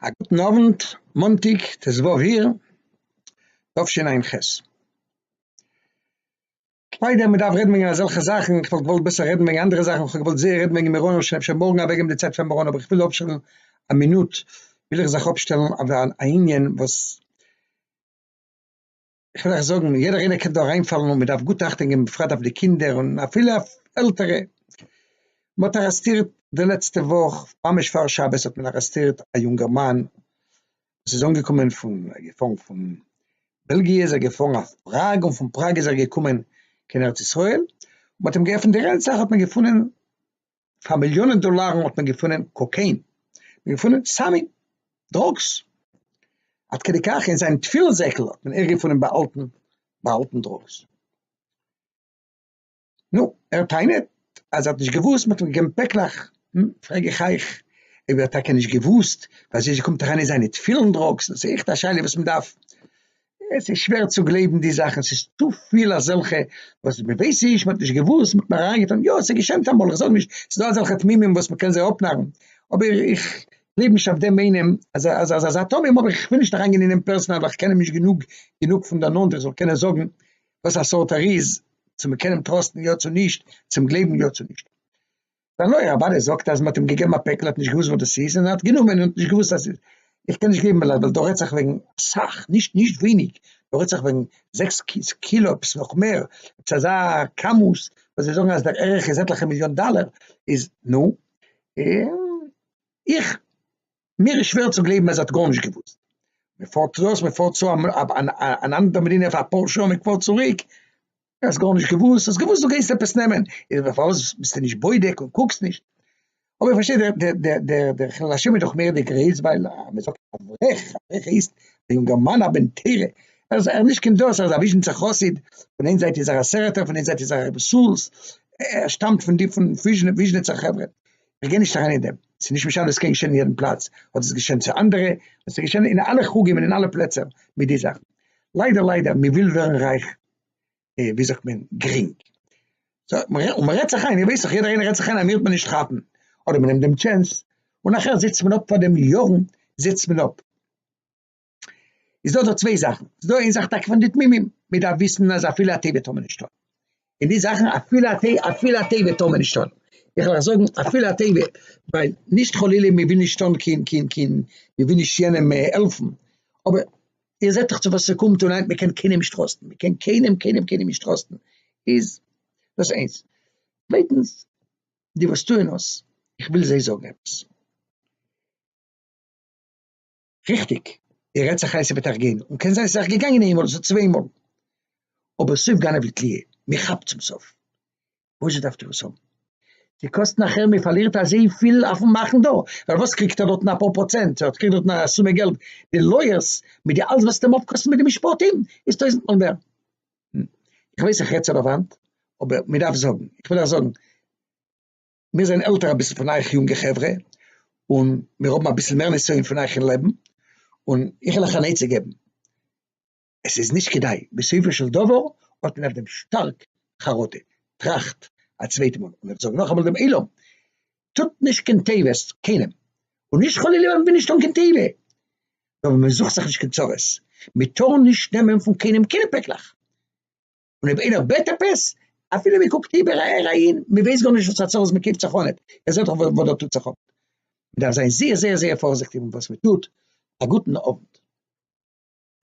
א גוטן אוונט, מאנטאג ט ז אייר תשע ע ח. כ'מיין אז מ'דארף רעדן וועגן אזעלכע זאכן, איך וואלט געוואלט בעסער רעדן וועגן אנדערע זאכן, כ'האב געוואלט זייער רעדן וועגן מירון, אבער כ'קען אפשר מארגן אוועקגעבן די צייט פאר מירון, אבער כ'וויל אפשטעלן א מינוט, וויל איך זיך אפשטעלן אויף א ענין וואס. איך וויל אייך זאגן, יעדער איינער קען דא אריינפאלן און מען דארף גוט אכטונג געבן בפרט אויף די קינדער און אפילו אויף עלטערע. מען האט ארעסטירט די לעצטע וואך, ממש פאר שבת האט מען ארעסטירט א יונגערמאן וואס איז אנגעקומען פון, געפארן פון בעלגיע איז ער געפארן אויף פראג און פון פראג איז ער געקומען קיין ארץ ישראל, מען האט אים געעפנט די רענצעך האט מען געפונען פאר מיליאנען דאלארן האט מען געפונען קאקעין, מען געפונען סמים, דראגס, עד כדי כך אין זיין תפילין זעקל האט מען ערגעפונען באהאלטן באהאלטן דראגס. נו, ער טענה'ט אז ער האט נישט געוואוסט מ'האט אים געגעבן פעקלעך, נו, פרעג איך אייך, אויב ער האט טאקע נישט געוואוסט, פארוואזשע קומט אריין אין זיינע תפילין דראגס? דאס איז עכט א שאלה וואס מ'דארף עס איז שווער צו גלייבן די זאכן, ס'איז צופיל אזעלכע וואס מען ווייסט נישט, מען האט נישט געוואוסט, מען האט נאר אריינגעטון, יא ס'איז געשענט אמאל, איך זאג נישט, ס'איז דא אזעלכע תמימים וואס מען קען זיי אפנארן, אבער איך גלייב נישט אויף דעם איינעם אז אז אז אזא תמים, אבער איך וויל נישט אריינגיין אין אים פערסאנעל ווייל איך קען אים נישט גענוג גענוג פון דער נאנט איך זאל קענען זאגן וואס א סארט ער איז, צו מען קען אים טראסטן יא צו נישט, צו אים גלייבן יא צו נישט. זיין לויער אוודאי זאגט אז מען האט אים געגעבן א פעקל ער האט נישט געוואוסט וואס דאס איז און ער האט גענומען און ער האט נישט געוואוסט אז ס'איז איך קען נישט געבן ווייל ווייל דא רעדט זיך וועגן אסאך נישט נישט ווייניג דא רעדט זיך וועגן זעקס קילא עפעס נאך מער עפעס אזא כמות וואס זיי זאגן אז דער ערך איז עטליכע מיליאן דאלער איז נו איך מיר איז שווער צו גלייבן אז ער האט גארנישט געוואוסט. מען פארט צו דאס, מען פארט צו אן אנדערע מדינה פאר אפאר שעה, מען פארט צוריק, האסט גארנישט געוואוסט, האסט געוואוסט דו גייסט עפעס נעמען, איז דען פארוואס ביסטו נישט בודק און קוקסט נישט? אבער איך פארשטיי דער דער דער דער חילול השם איז דאך מער די גרייז ווייל מען זאגט אברך, אברך הייסט א יונגערמאן א בן תורה, ער איז נישט קיין דאס, ער איז א וויזשניצער חסיד, פון איין זייט איז ער א סערעטער, פון איין זייט איז ער א רבי סאלז, ער שטאמט פון די פון וויזשניצער חברה, איך גיי נישט אריין אין דעם, ס'איז נישט משנה, עס קען געשען אין יעדן פלאץ, אדער ס'איז געשען צו אנדערע, און ס'איז געשען אין אלע חוגים און אין אלע פלעצער מיט די זאכן. ליידער ליידער, מען וויל ווערן רייך, ווי זאגט מען, גרינג. און מען רעדט זיך איין, איך ווייס דאך, יעדער איינער רעדט זיך איין אז מען וועט נישט כאפן, אדער מען נעמט דעם טשענס, און נאכער זיצט מען אפ פאר דעם יארן, זיצט מען אפ. איז דא דא צוויי זאכן, איז דא איין זאך טאקע פון די תמימים, מען דארף וויסן אז אפילו א תיבה טאר מען נישט טון, און די זאכן אפילו א תיבה, אפילו א תיבה טאר מען נישט טון, איך וועל אייך זאגן אפילו א תיבה, ווייל נישט חלילה מען וויל נישט טון קיין קיין קיין מען וויל נישט יענעם העלפן, אבער איר זעט דאך צו וואס ס'קומט און היינט מען קען קיינעם נישט טראסטן, מען קען קיינעם קיינעם קיינעם נישט טראסטן, איז דאס איינס, צווייטנס, די וואס טוען עס, איך וויל זיי זאגן עפעס. ריכטיג, ער רעדט זיך איין ס'וועט זיך געבן, און קען זיין ס'איז זיך געגאנגען איינמאל אדער צוויי מאל, אבער סוף גנב לתלייה, מען כאפט צום סוף, פשוט דארפט איר עס האבן, ס'קאסט נאכער מען פארלירט אזויפיל אויפן מאכן דא, ווייל וואס קריגט ער דארטן אפאר פראצענט, ער קריגט דארטן א סומע געלט, די לויערס מיט די אלס וואס ס'וועט אים אפקאסטן מיט די משפטים איז טויזנט מאל מער, איך ווייס איך רעד צו די וואנט, אבער מען דארף זאגן, איך וויל אייך זאגן, מיר זענען עלטער אביסל פון אייך יונגע חברה, און מיר האבן אביסל מער נסיון פון אייך אין לעבן, און איך וויל אייך אן עצה געבן, עס איז נישט כדאי, בסופו של דבר האט מען אויף דעם שטארק חרטה, טראכט א צווייט מאל, און איך זאג נאכאמאל דעם עולם, טוט נישט קיין תיבות קיינעם, און נישט חלילה ווען מען וויל נישט טון קיין תיבה, נאר ווען מען זוכט זיך נישט קיין צרות, מען טאר נישט נעמען פון קיינעם קיינע פעקלעך, און אויב איינער בעט עפעס, אפילו מען קוקט איבער אהער אהין, מען ווייסט גארנישט וואס פאר צרות מען קריגט זיך אן, ער זעט דאך וואס דא טוט זיך אפ. מען דארף זיין זייער זייער זייער פארזיכטיג מיט וואס מען טוט. א גוטן אוונט.